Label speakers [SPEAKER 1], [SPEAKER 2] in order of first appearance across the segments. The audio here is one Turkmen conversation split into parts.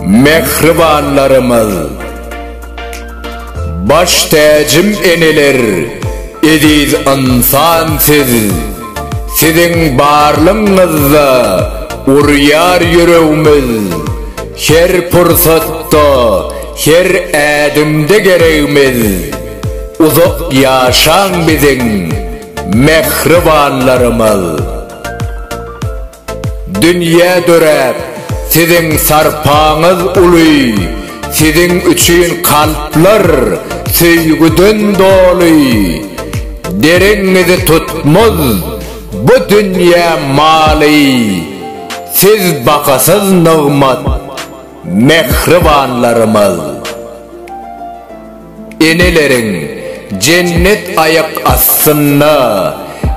[SPEAKER 1] Mähribanlarymyz! Baş täjim eneler, eziz ynsan siz! Siziň barlygyňyzda urýar ýüregimiz, Her pursatda, her ädimde geregimiz. Uzak ýaşaň biziň mähribanlarymyz. Dünýä döräp siziň sarpaňyz uly siziň üçin kalplar söýgüden doly dereňňizi tutmaz bu dünýä maly siz bahasyz nygmat mähribanlarymyz. Eneleriň jennet aýak astynda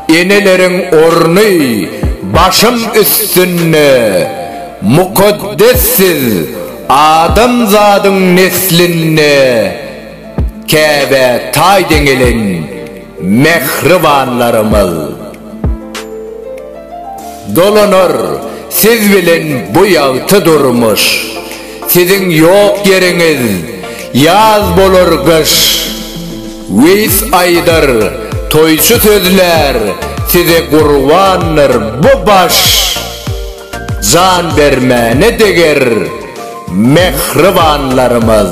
[SPEAKER 1] Eneleriň orny başym üstünde Mukaddes siz adamzadyň neslinde Käbä taý deňelen Mähribanlarymyz! Dolanar siz bilen bu ýagty durmuş, Siziň ýok ýeriňiz ýaz bolar gyş. Weýis aýdar, toýçy sözlär, Size gurbandyr bu baş. Jan bermäne deger, mähribanlarymyz!